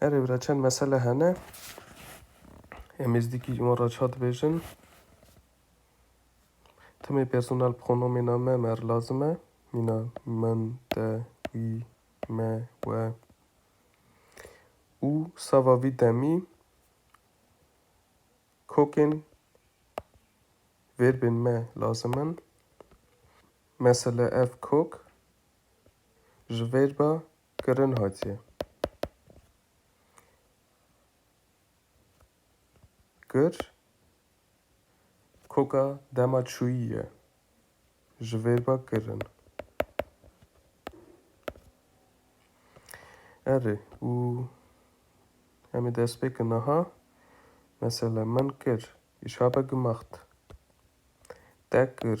Erê bira çend mesele hene. Em êzdîkî ji wan re çar dibêjin. Timê personel pronomêna me mer lazim e. Mîna min, te, wî, me, we. Û sava vî demî kokên verbên me lazim in. Mesele ev kok ji verba kirin hatiye kir koka dema çûyî ye ji verba kirin. Erê û em ê dest pê kin aha mesela min kir îşabe gimaxt te kir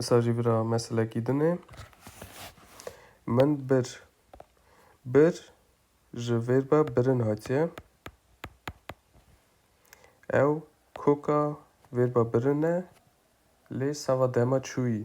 Esa jî vira meselekî din e. Min bir. Bir ji vêrba birin hatiye. Ew koka vêrba birin e lê sava dema çûyî.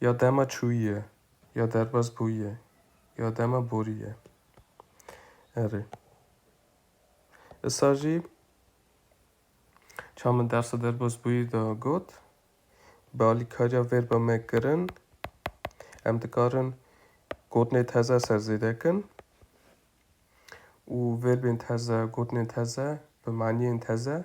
Ya dema çûyîye, ya derbas bûyîye, ya dema borîye. Erê. Isa jî çamin dersa derbas bûyî de got, bi alîkariya vêrba me kirin, em dikarin gotinê teze ser zêde kin û vêrbên teze, gotinên teze bi maniyên teze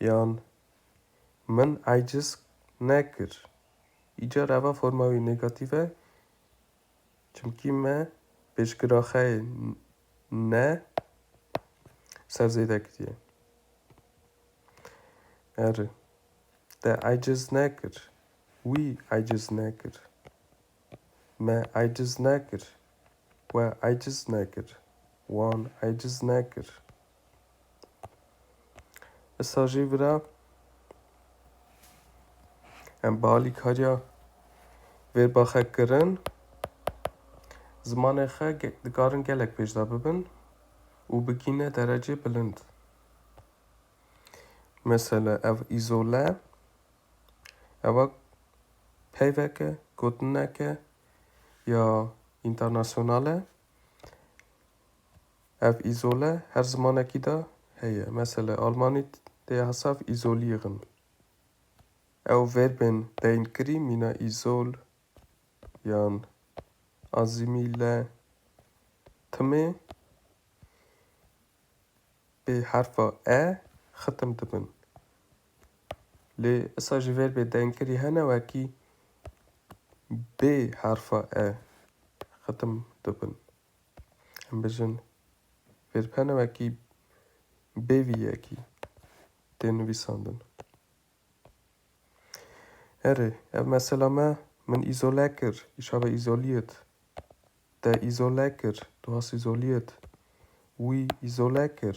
Yan Min eciz nekir. Îcar eva forma wî negatîf e çimkî me pêşgira xwe yê ne ser zêde kiriye. Eri te eciz nekir. Wî eciz nekir. Me aciz nekir. We aciz nekir. Wan aciz nekir. Issa jî vira em bi alîkariya vê baxe kirin zimanê xwe dikarin gelek pêşda bibin û bigîne derecê bilind. Mesela ev îzole Ew peyvek e, gotinek e ya înternasyonal e. Ev îzole her zimanekî de heye. Mesele Almanî tê ya hesav îzolîg in. Ew verbên tên kirî mîna îzol yan azîmîle timê bê herfa e xitim dibin. Lê esa jî ver bê dengkirî hene wekî bê herfa e xitim dibin. Em bijin vêrb hene wekî bê vî yekî tê nivîsandin. Erê, ev mesela me min îzole kir, îşa be îzolîyit. Te îzole kir, tu has îzolîyit. Wî îzole kir,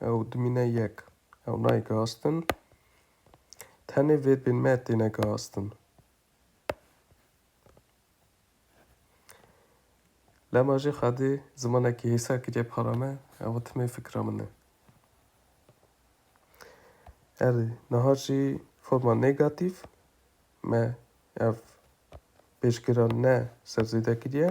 ew dimîne yek, ew nayê gihastin, tenê vêrbên me têne gihastin. Lema jî xwedê zimanekî hêsa kiriye para me, ew timê fikra min e. Erê, niha jî forma negatîf me ev pêşgira ne serzêde kiriye.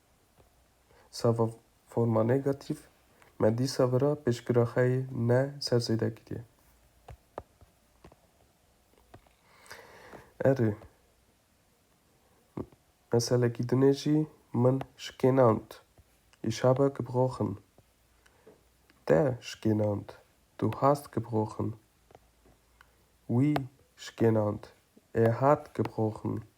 Sava forma negatîf me dîsa vira pêşgira xwe yê ne ser zêde kiriye. Erê, meselekî dinê jî min şikênand. Îşaba ki bixoxin. Te şikênand. Tu hast ki bixoxin. Wî şikênand. Ê hat ki bixoxin.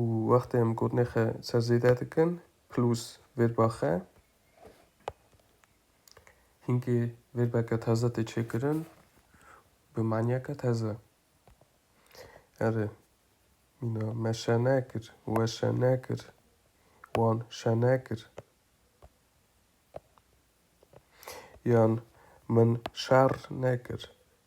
û wextê em gotinê xwe ser zêde dikin plus vêrba xwe hinkê vêrbeke teze tê çêkirin bi maniyeke teze erê mîna me şene kir we şene kir wan şene kir yan min şer nekir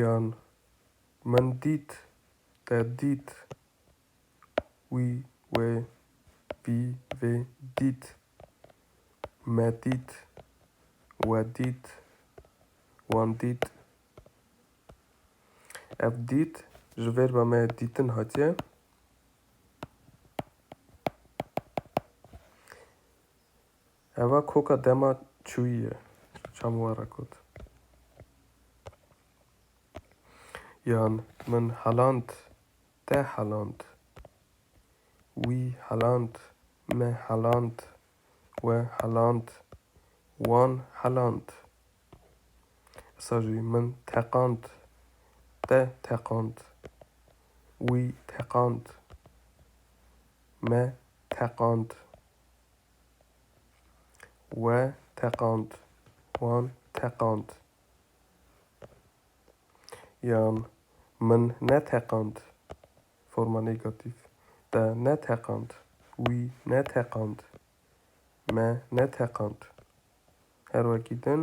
Yan min dît te dît wî wê wî vê dît me dît we dît wan dît Ev dît ji vêrba me dîtin hatiye Eva koka dema çûyî ye. Çav min were kot. Yan min heland, te heland, wî heland, me heland, we heland, wan heland. Îsa jî min teqand, te teqand, wî teqand, me teqand. We teqand. Wan teqand. Yan min neteqand. Forma negatif. Te neteqand. Wî neteqand. Me neteqand. Her wekî din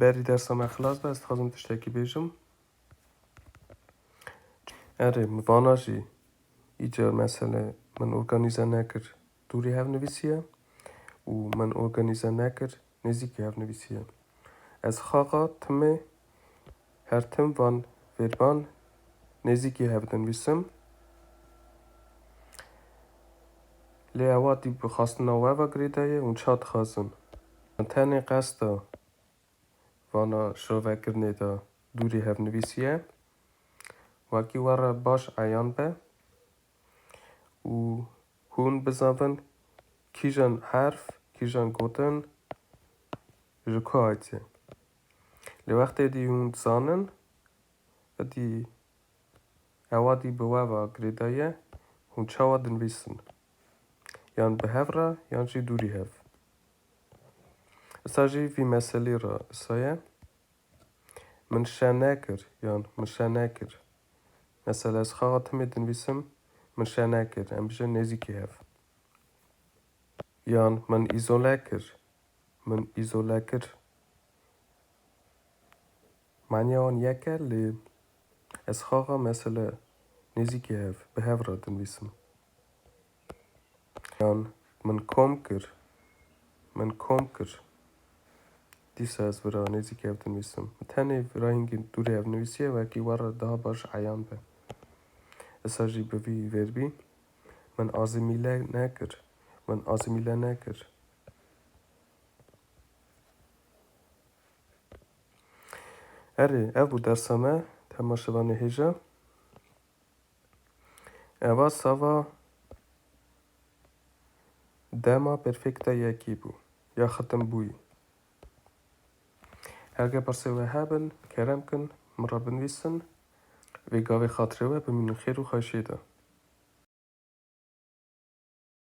Berî dersa me xilas be, ez dixwazim tiştekî bêjim. Erê, min vana jî îcar mesele min organîze nekir dûrî hev nivîsiye û min organîze nekir nêzîkî hev nivîsiye. Ez xaxa timê Her tim van vêrban nêzîkî hev dinivîsim. Lê ewa tî bi xastina we ve girêda ye û ça dixwazin. Min tenê qesta vana şovekirinê de dûrî hev nivîsiye. Wekî we re baş eyan be û hûn bizanvin kîjan herf, kîjan gotin ji ku hatîye. Lê wextê dî hûn dizanin dî ewa dî bi we ve girêda ye hûn çawa dinivîsin. Yan bi hev re yan jî dûrî hev. Issa jî vî meselî re issa ye. Min şe nekir yan min şe nekir. Mesela ez xaxa timê dinivîsim min şe nekir em bijin nêzîkî hev. Yan min îzole kir min îzole kir. Maniya wan yek e lê ez xaxa mesele nêzîkî hev bi hev re dinivîsim. Yan min kom kir, min kom kir. Dîsa ez vira nêzîkî hev dinivîsim. Min tenê vira hingî dûrê hev nivîsiye wekî we re daha baş eyan be. Esa jî bi vî vêrbî min azimîle nekir, min azimîle nekir. Erê, ev bû dersa me, temaşeva nêhêja. Eva sava dema perfekta yekî bû, ya xetinbûyî. Herge pirsê we hebin, kerem kin, min re binivîsin, vê gavê xatirê we bimînin xêr û xweşiyê de.